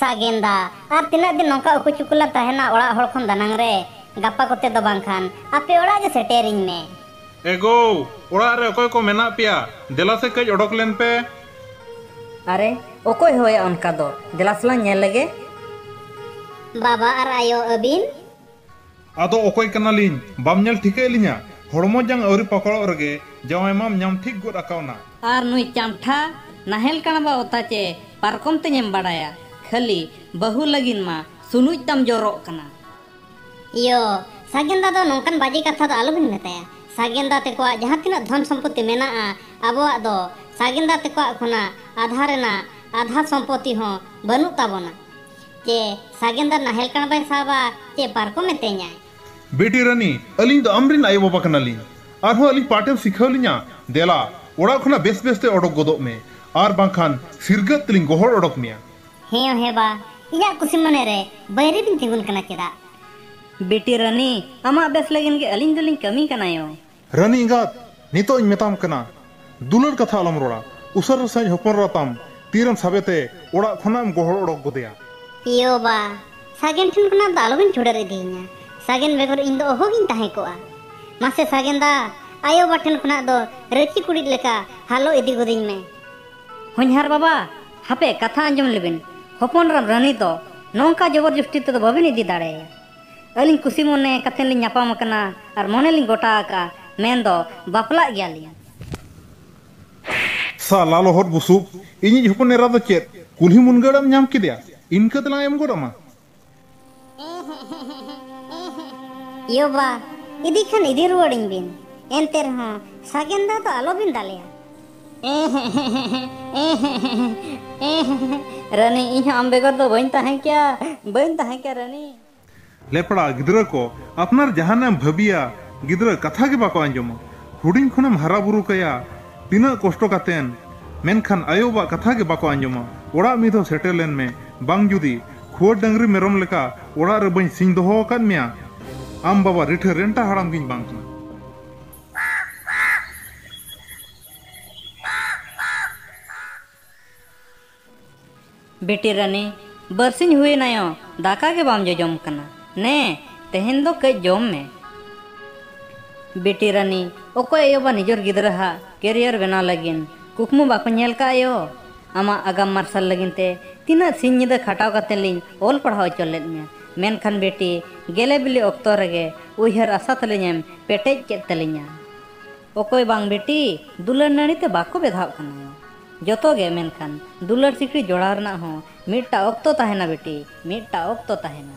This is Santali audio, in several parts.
ᱥᱟᱜᱮᱱᱫᱟ, ᱟᱨ ᱛᱤᱱᱟᱹᱜ ᱫᱤᱱ ᱱᱚᱝᱠᱟ ᱩᱠᱩ ᱪᱩᱠᱩ ᱞᱟᱝ ᱛᱟᱦᱮᱱᱟ ᱚᱲᱟᱜ ᱦᱚᱲ ᱠᱷᱚᱱ ᱫᱟᱱᱟᱝ ᱨᱮ? ᱜᱟᱯᱟ ᱠᱚᱛᱮ ᱫᱚ ᱵᱟᱝ ᱠᱷᱟᱱ ᱟᱯᱮ ᱚᱲᱟᱜ ᱜᱮ ᱥᱮᱴᱮᱨᱤᱧ ᱢᱮ᱾ ᱮᱜᱳᱣ! ᱚᱲᱟᱜ ᱨᱮ ᱚᱠᱚᱭ ᱠᱚ ᱢᱮᱱᱟᱜ ᱯᱮᱭᱟ? ᱫᱮᱞᱟ ᱥᱮ ᱠᱟᱹᱡ ᱚᱰᱚᱠ ᱞᱮᱱ ᱯᱮ᱾ ᱟᱨᱮ, ᱚᱠᱚᱭ ᱦᱚᱦᱚᱭᱟ ᱚᱱᱠᱟ ᱫᱚ, ᱫᱮᱞᱟ ᱥᱮᱞᱟᱝ ᱧᱮᱞ ᱞᱮᱜᱮ᱾ ᱵᱟᱵᱟ ᱟᱨ ᱟᱭᱳ, ᱟᱹᱵᱤᱱ? ᱟᱫᱚ ᱚᱠᱚᱭ ᱠᱟᱱᱟᱞᱤᱧ ᱵᱟᱢ ᱧᱮᱞ ᱴᱷᱤᱠᱟᱹᱭᱮᱫ ᱞᱤᱧᱟ? ᱦᱚᱲᱢᱚ ᱡᱟᱝ ᱟᱹᱣᱨᱤ ᱯᱟᱠᱚᱲᱚᱜ ᱨᱮᱜᱮ ᱡᱟᱶᱟᱭ ᱢᱟᱢ ᱧᱟᱢ ᱴᱷᱤᱠ ᱜᱚᱫ ᱟᱠᱟᱣᱱᱟ᱾ ᱟᱨ ᱱᱩᱭ ᱪᱟᱢᱴᱷᱟ ᱱᱟᱦᱮᱞ ᱠᱟᱬᱵᱟ ᱚᱛᱟ ᱪᱮ ᱯᱟᱨᱠᱚᱢ ᱛᱮᱧ ᱮᱢ ᱵᱟᱲᱟᱭᱟ ᱠᱷᱟᱹᱞᱤ ᱵᱟᱹᱦᱩ ᱞᱟᱹᱜᱤᱱ ᱢᱟ ᱥᱩᱱᱩᱡ ᱛᱟᱢ ᱡᱚᱨᱚᱜ ᱠᱟᱱᱟ᱾ ᱤᱭᱚ ᱥᱟᱜᱮᱱ ᱫᱟ ᱫᱚ ᱱᱚᱝᱠᱟᱱ ᱵᱟᱡᱮ ᱠᱟᱛᱷᱟ ᱫᱚ ᱟᱞᱚᱵᱤᱱ ᱢᱮᱛᱟᱭᱟ᱾ ᱥᱟᱜᱮᱱ ᱫᱟ ᱛᱮᱠᱚᱣᱟᱜ ᱡᱟᱦᱟᱸ ᱛᱤᱱᱟᱹᱜ ᱫᱷᱚᱱ ᱥᱚᱢᱯᱚᱛᱤ ᱢᱮᱱᱟᱜᱼᱟ ᱟᱵᱚᱣᱟᱜ ᱫᱚ ᱥᱟᱜᱮᱱ ᱫᱟ ᱛᱮᱠᱚᱣᱟᱜ ᱠᱷᱚᱱᱟᱜ ᱟᱫᱷᱟ ᱨᱮᱱᱟᱜ ᱟᱫᱷᱟ ᱥᱚᱢᱯᱚᱛᱤ ᱦᱚᱸ ᱵᱟᱹᱱᱩᱜ ᱛᱟᱵᱚᱱᱟ᱾ ᱪᱮ ᱥᱟᱜᱮᱱ ᱫᱟ ᱱᱟᱦᱮᱞ ᱠᱟᱬ ᱵᱟᱭ ᱥᱟᱵᱟ ᱪᱮ ᱯᱟᱨᱠᱚᱢ ᱮ ᱛᱮᱧᱟᱭ᱾ ᱵᱤᱴᱤ ᱨᱟᱹᱱᱤ, ᱟᱹᱞᱤᱧ ᱫᱚ ᱟᱢ ᱨᱤᱱ ᱟᱭᱳ ᱵᱟᱵᱟ ᱠᱟᱱᱟ ᱞᱤᱧ᱾ ᱟᱨ ᱦᱚᱸ ᱟᱹᱞᱤᱧ ᱯᱟᱴᱷ ᱮᱢ ᱥᱤᱠᱷᱟᱹᱣ ᱞᱤᱧᱟ᱾ ᱫᱮᱞᱟ, ᱚᱲᱟᱜ ᱠᱷᱚᱱᱟᱜ ᱵᱮᱥ ᱵᱮᱥ ᱛᱮ ᱚᱰᱚᱠ ᱜᱚᱫᱚᱜ ᱢᱮ᱾ ᱟᱨ ᱵᱟᱝ ᱠᱷᱟᱱ ᱥᱤᱨᱜᱟᱹᱫ ᱛᱮᱞᱤᱧ ᱜᱚᱦᱚᱲ ᱚᱰᱚᱠ ᱢᱮᱭᱟ᱾ ᱦᱮᱸᱭᱚ ᱦᱮᱸ ᱵᱟ, ᱤᱧᱟᱜ ᱠᱩᱥᱤ ᱢᱚᱱᱮ ᱨᱮ ᱵᱟᱹᱭᱨᱤ ᱵᱤᱱ ᱛᱤᱸᱜᱩᱱ ᱠᱟᱱᱟ ᱪᱮᱫᱟᱜ? ᱵᱤᱴᱤ ᱨᱟᱹᱱᱤ, ᱟᱢᱟᱜ ᱵᱮᱥ ᱞᱟᱹᱜᱤᱱ ᱜᱮ ᱟᱹᱞᱤᱧ ᱫᱚᱞᱤᱧ ᱠᱟᱹᱢᱤ ᱠᱟᱱᱟᱭᱚ᱾ ᱨᱟᱹᱱᱤ ᱮᱸᱜᱟᱛ! ᱱᱤᱛᱚᱜ ᱤᱧ ᱢᱮᱛᱟᱢ ᱠᱟᱱᱟ, ᱫᱩᱞᱟᱹᱲ ᱠᱟᱛᱷᱟ ᱟᱞᱚᱢ ᱨᱚᱲᱟ᱾ ᱩᱥᱟᱹᱨᱟ ᱥᱟᱺᱦᱤᱡ ᱦᱚᱯᱚᱱ ᱮᱨᱟ ᱛᱟᱢ ᱛᱤ ᱨᱮᱢ ᱥᱟᱵᱮ ᱛᱮ ᱚᱲᱟᱜ ᱠᱷᱚᱱᱟᱜ ᱮᱢ ᱜᱚᱦᱚᱲ ᱚᱰᱚᱠ ᱜᱚᱫᱮᱭᱟ᱾ ᱮᱭᱳ ᱵᱟ! ᱥᱟᱜᱮᱱ ᱴᱷᱮᱱ ᱠᱷᱚᱱᱟᱜ ᱫᱚ ᱟᱞᱚᱵᱮᱱ ᱪᱷᱩᱰᱟᱹᱨ ᱤᱫᱤᱭᱤᱧᱟ᱾ ᱥᱟᱜᱮᱱ ᱵᱮᱜᱚᱨ ᱤᱧ ᱫᱚ ᱚᱦᱚ ᱜᱤᱧ ᱛᱟᱦᱮᱸ ᱠᱚᱜᱼᱟ᱾ ᱢᱟᱥᱮ ᱥᱟᱜᱮᱱ ᱫᱟ, ᱟᱭᱳ ᱵᱟᱵᱟ ᱴᱷᱮᱱ ᱠᱷᱚᱱᱟᱜ ᱫᱚ ᱨᱟᱹᱪᱤ ᱠᱩᱲᱤᱫ ᱞᱮᱠᱟ ᱦᱟᱞᱚ ᱤᱫᱤ ᱜᱚᱫᱤᱧ ᱢᱮ᱾ ᱦᱚᱧᱦᱟᱨ ᱵᱟᱵᱟ! ᱦᱟᱯᱮ ᱠᱟᱛᱷᱟ ᱟᱸᱡᱚᱢ ᱞᱮᱵᱤᱱ᱾ ᱦᱚᱯᱚᱱ ᱮᱨᱟᱢ ᱨᱟᱹᱱᱤ ᱫᱚ ᱱᱚᱝᱠᱟ ᱡᱚᱵᱚᱨ ᱡᱚᱥᱴᱤ ᱛᱮᱫᱚ ᱵᱟᱹᱵᱤᱱ ᱤᱫᱤ ᱫᱟᱲᱮ ᱟᱭᱟ᱾ ᱟᱹᱞᱤᱧ ᱠᱩᱥᱤ ᱢᱚᱱᱮ ᱠᱟᱛᱮ ᱞᱤᱧ ᱧᱟᱯᱟᱢ ᱟᱠᱟᱱᱟ ᱟᱨ ᱢᱚᱱᱮ ᱞᱤᱧ ᱜᱚᱴᱟ ᱟᱠᱟᱫᱼᱟ ᱢᱮᱱ ᱫᱚ ᱵᱟᱯᱞᱟᱜ ᱜᱮᱭᱟ ᱞᱤᱧ᱾ ᱥᱟᱞᱟ ᱞᱚᱦᱚᱫ ᱵᱩᱥᱩᱵ ᱤᱧᱤᱡ ᱦᱚᱯᱚᱱ ᱮᱨᱟ ᱫᱚ ᱪᱮᱫ ᱠᱩᱞᱦᱤ ᱢᱩᱱᱜᱟᱹᱲ ᱮᱢ ᱧᱟᱢ ᱠᱮᱫᱮᱭᱟ ᱤᱱᱠᱟᱹ ᱛᱮᱞᱟᱝ ᱮᱢ ᱜᱚᱫ ᱟᱢᱟ᱾ ᱭᱳ ᱵᱟ, ᱤᱫᱤ ᱠᱷᱟᱱ ᱤᱫᱤ ᱨᱩᱣᱟᱹᱲ ᱟᱹᱧ ᱵᱤᱱ᱾ ᱮᱱᱛᱮ ᱨᱮᱦᱚᱸ ᱥᱟᱜᱮᱱ ᱫᱟ ᱫᱚ ᱟᱞᱚ ᱵᱤᱱ ᱫᱟᱞᱮᱭᱟ᱾ ᱨᱟᱹᱱᱤ ᱤᱧ ᱦᱚᱸ ᱟᱢ ᱵᱮᱜᱚᱨ ᱫᱚ ᱵᱟᱹᱧ ᱛᱟᱦᱮᱸ ᱠᱮᱭᱟ ᱵᱟᱹᱧ ᱛᱟᱦᱮᱸ ᱠᱮᱭᱟ ᱨᱟᱹᱱᱤ ᱞᱮᱯᱲᱟ ᱜᱤᱫᱽᱨᱟᱹ ᱠᱚ ᱟᱯᱱᱟᱨ ᱡᱟᱦᱟᱱᱟᱜ ᱮᱢ ᱵᱷᱟᱹᱵᱤᱭᱟ ᱜᱤᱫᱽᱨᱟᱹ ᱠᱟᱛᱷᱟ ᱜᱮ ᱵᱟᱠᱚ ᱟᱸᱡᱚᱢᱟ ᱦᱩᱰᱤᱧ ᱠᱷᱚᱱᱮᱢ ᱦᱟᱨᱟ ᱵᱩᱨᱩ ᱠᱟᱭᱟ ᱛᱤᱱᱟᱹᱜ ᱠᱚᱥᱴᱚ ᱠᱟᱛᱮᱱ ᱢᱮᱱᱠᱷᱟᱱ ᱟᱭᱳ ᱵᱟᱵᱟᱜ ᱠᱟᱛᱷᱟ ᱜᱮ ᱵᱟᱠᱚ ᱟᱸᱡᱚᱢᱟ ᱚᱲᱟᱜ ᱢᱤᱫ ᱫᱷᱟᱣ ᱥᱮᱴᱮᱨ ᱞᱮᱱ ᱢᱮ ᱵᱟᱝ ᱡᱩᱫᱤ ᱠᱷᱩᱣᱟᱹᱨ ᱰᱟᱹᱝᱨᱤ ᱢᱮᱨᱚᱢ ᱞᱮᱠᱟ ᱚᱲᱟᱜ ᱨᱮ ᱵᱟᱹᱧ ᱥᱤᱧ ᱫᱚᱦᱚ ᱟᱠᱟᱫ ᱢᱮᱭᱟ ᱟᱢ ᱵᱟᱵᱟ ᱨᱤᱴᱷᱟᱹ ᱨᱮᱱᱴᱟ ᱦᱟᱲᱟᱢ ᱜᱤᱧ ᱵᱟᱝ ᱠᱟᱱᱟ ᱵᱤᱴᱤ ᱨᱟᱹᱱᱤ ᱵᱟᱹᱨᱥᱤᱧ ᱦᱩᱭᱮᱱᱟᱭᱚ ᱫᱟᱠᱟ ᱜᱮ ᱵᱟᱢ ᱡᱚᱡᱚᱢ ᱠᱟᱱᱟ ᱱᱮ ᱛᱮᱦᱮᱧ ᱫᱚ ᱠᱟᱹᱡ ᱡᱚᱢ ᱢᱮ ᱵᱤᱴᱤ ᱨᱟᱹᱱᱤ ᱚᱠᱚᱭ ᱟᱭᱳ ᱵᱟ ᱱᱤᱡᱚᱨ ᱜᱤᱫᱽᱨᱟᱹ ᱦᱟᱜ ᱠᱮᱨᱤᱭᱟᱨ ᱵᱮᱱᱟᱣ ᱞᱟᱹᱜᱤᱫ ᱠᱩᱠᱢᱩ ᱵᱟᱠᱚ ᱧᱮᱞ ᱠᱟᱜ ᱟᱭᱳ ᱟᱢᱟᱜ ᱟᱜᱟᱢ ᱢᱟᱨᱥᱟᱞ ᱞᱟᱹᱜᱤᱫ ᱛᱮ ᱛᱤᱱᱟᱹᱜ ᱥᱤᱧ ᱧᱤᱫᱟᱹ ᱠᱷᱟᱴᱟᱣ ᱠᱟᱛᱮ ᱞᱤᱧ ᱚᱞ ᱯᱟᱲᱦᱟᱣ ᱦᱚᱪᱚ ᱞᱮᱫ ᱢᱮᱭᱟ ᱢᱮᱱᱠᱷᱟᱱ ᱵᱤᱴᱤ ᱜᱮᱞᱮ ᱵᱤᱞᱤ ᱚᱠᱛᱚ ᱨᱮᱜᱮ ᱩᱭᱦᱟᱹᱨ ᱟᱥᱟ ᱛᱟᱹᱞᱤᱧ ᱮᱢ ᱯᱮᱴᱮᱡ ᱠᱮᱫ ᱛᱟᱹᱞᱤᱧᱟ᱾ ᱚᱠᱚᱭ ᱵᱟᱝ ᱵᱤᱴᱤ ᱫᱩᱞᱟᱹᱲ ᱱᱟᱹᱲᱤ ᱛᱮ ᱵᱟᱠᱚ ᱵᱮᱫᱷᱟᱣᱜ ᱠᱟᱱᱟ᱾ ᱡᱚᱛᱚ ᱜᱮ ᱢᱮᱱᱠᱷᱟᱱ ᱫᱩᱞᱟᱹᱲ ᱥᱤᱠᱲᱤ ᱡᱚᱲᱟᱣ ᱨᱮᱱᱟᱜ ᱦᱚᱸ ᱢᱤᱫᱴᱟᱜ ᱚᱠᱛᱚ ᱛᱟᱦᱮᱸᱱᱟ ᱵᱤᱴᱤ, ᱢᱤᱫᱴᱟᱜ ᱚᱠᱛᱚ ᱛᱟᱦᱮᱸᱱᱟ᱾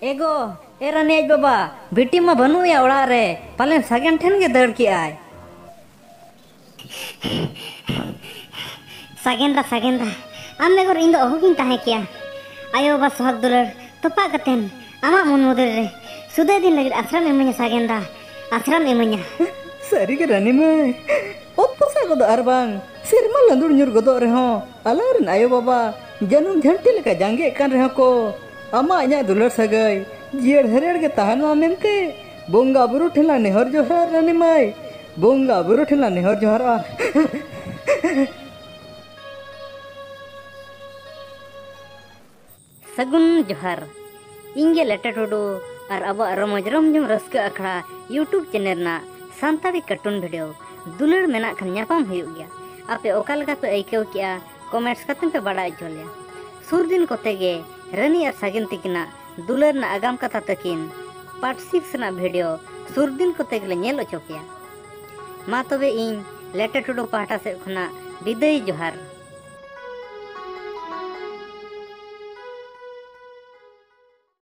ᱮᱜᱳ! ᱮ ᱨᱟᱹᱱᱤ ᱟᱡ ᱵᱟᱵᱟ! ᱵᱤᱴᱤ ᱢᱟ ᱵᱟᱹᱱᱩᱜ ᱮᱭᱟ ᱚᱲᱟᱜ ᱨᱮ, ᱯᱟᱞᱮᱱ ᱥᱟᱜᱮᱱ ᱴᱷᱮᱱ ᱜᱮ ᱫᱟᱹᱲ ᱠᱮᱜ ᱟᱭ᱾ ᱥᱟᱜᱮᱱ ᱫᱟ, ᱥᱟᱜᱮᱱ ᱫᱟ! ᱟᱢ ᱵᱮᱜᱚᱨ ᱤᱧ ᱫᱚ ᱚᱦᱚ ᱜᱤᱧ ᱛᱟᱦᱮᱸ ᱠᱮᱭᱟ᱾ ᱟᱭᱳ ᱵᱟᱵᱟ ᱥᱚᱦᱟᱜᱽ ᱫᱩᱞᱟᱹᱲ ᱛᱚᱯᱟᱜ ᱠᱟᱛᱮ ᱟᱢᱟᱜ ᱢᱚᱱ ᱢᱩᱫᱽᱨᱮ ᱨᱮ ᱥᱩᱫᱟᱹᱭ ᱫᱤᱱ ᱞᱟᱹᱜᱤᱫ ᱟᱥᱨᱟᱢ ᱤᱢᱟᱹᱧᱟ ᱥᱟᱜᱮᱱ ᱫᱟ, ᱟᱥᱨᱟᱢ ᱤᱢᱟᱹᱧᱟ᱾ ᱥᱟᱹᱨᱤ ᱜᱮ ᱨᱟᱹᱱᱤ ᱢᱟᱹᱭ! ᱚᱛ ᱯᱚᱥᱟᱜ ᱜᱚᱫᱚᱜ ᱟᱨ ᱵᱟᱝ ᱥᱮᱨᱢᱟ ᱞᱟᱹᱫᱩᱲ ᱧᱩᱨ ᱜᱚᱫᱚᱜ ᱨᱮᱦᱚᱸ ᱟᱞᱟᱝ ᱨᱤᱱ ᱟᱭᱳ ᱵᱟᱵᱟ ᱡᱟᱹᱱᱩᱢ ᱡᱷᱟᱹᱱᱴᱤ ᱞᱮᱠᱟ ᱡᱟᱸᱜᱮᱜ ᱠᱟᱱ ᱨᱮᱦᱚᱸ ᱠᱚ ᱟᱢᱟᱜ ᱤᱧᱟᱹᱜ ᱫᱩᱞᱟᱹᱲ ᱥᱟᱹᱜᱟᱹᱭ ᱡᱤᱭᱟᱹᱲ ᱦᱮᱨᱮᱲ ᱜᱮ ᱛᱟᱦᱮᱱ ᱢᱟ ᱢᱮᱱᱛᱮ ᱵᱚᱸᱜᱟ ᱵᱩᱨᱩ ᱴᱷᱮᱱ ᱞᱟᱝ ᱱᱮᱦᱚᱨ ᱡᱚᱦᱟᱨ ᱨᱟᱹᱱᱤ ᱢᱟᱹᱭ ᱵᱚᱸᱜᱟ ᱵᱩᱨᱩ ᱴᱷᱮᱱ ᱞᱟᱝ ᱱᱮᱦᱚᱨ ᱡᱚᱦᱟᱨᱚᱜᱼᱟ ᱥᱟᱹᱜᱩᱱ ᱡᱚᱦᱟᱨ ᱤᱧ ᱜᱮ ᱞᱮᱴᱟ ᱴᱩᱰᱩ ᱟᱨ ᱟᱵᱚᱣᱟᱜ ᱨᱚᱢᱚᱡᱽ ᱨᱚᱢᱡᱚᱢ ᱨᱟᱹᱥᱠᱟᱹ ᱟᱠᱷᱲᱟ ᱭᱩᱴᱩᱵᱽ ᱪᱮᱱᱮᱞ ᱨᱮᱱᱟᱜ ᱥᱟᱱᱛᱟᱲᱤ ᱠᱟᱨᱴᱩᱱ ᱵᱷᱤᱰᱤᱭᱳ ᱫᱩᱞᱟᱹᱲ ᱢᱮᱱᱟᱜ ᱠᱷᱟᱱ ᱧᱟᱯᱟᱢ ᱦᱩᱭᱩᱜ ᱜᱮᱭᱟ ᱟᱯᱮ ᱚᱠᱟ ᱞᱮᱠᱟ ᱯᱮ ᱟᱹᱭᱠᱟᱹᱣ ᱠᱮᱜᱼᱟ ᱠᱚᱢᱮᱱᱴᱥ ᱠᱟᱛᱮ ᱯᱮ ᱵᱟᱲᱟᱭ ᱦᱚᱪᱚ ᱞᱮᱭᱟ ᱥᱩᱨ ᱫᱤᱱ ᱠᱚᱛᱮ ᱜᱮ ᱨᱟᱹᱱᱤ ᱟᱨ ᱥᱟᱜᱮᱱ ᱛᱤᱠᱤᱱᱟᱜ ᱫᱩᱞᱟᱹᱲ ᱨᱮᱱᱟᱜ ᱟᱜᱟᱢ ᱠᱟᱛᱷᱟ ᱛᱟᱹᱠᱤᱱ ᱯᱟᱨᱴ ᱥᱤᱠᱥ ᱨᱮᱱᱟᱜ ᱵᱷᱤᱰᱤᱭᱳ ᱥᱩᱨ ᱫᱤᱱ ᱠᱚᱛᱮ ᱜᱮᱞᱮ ᱧᱮᱞ ᱚᱪᱚ ᱯᱮᱭᱟ ᱢᱟ ᱛᱚᱵᱮ ᱤᱧ ᱞᱮᱴᱮ ᱴᱩᱰᱩ ᱯᱟᱦᱴᱟ ᱥᱮᱫ ᱠᱷᱚᱱᱟᱜ ᱵᱤᱫᱟᱹᱭ ᱡᱚᱦᱟᱨ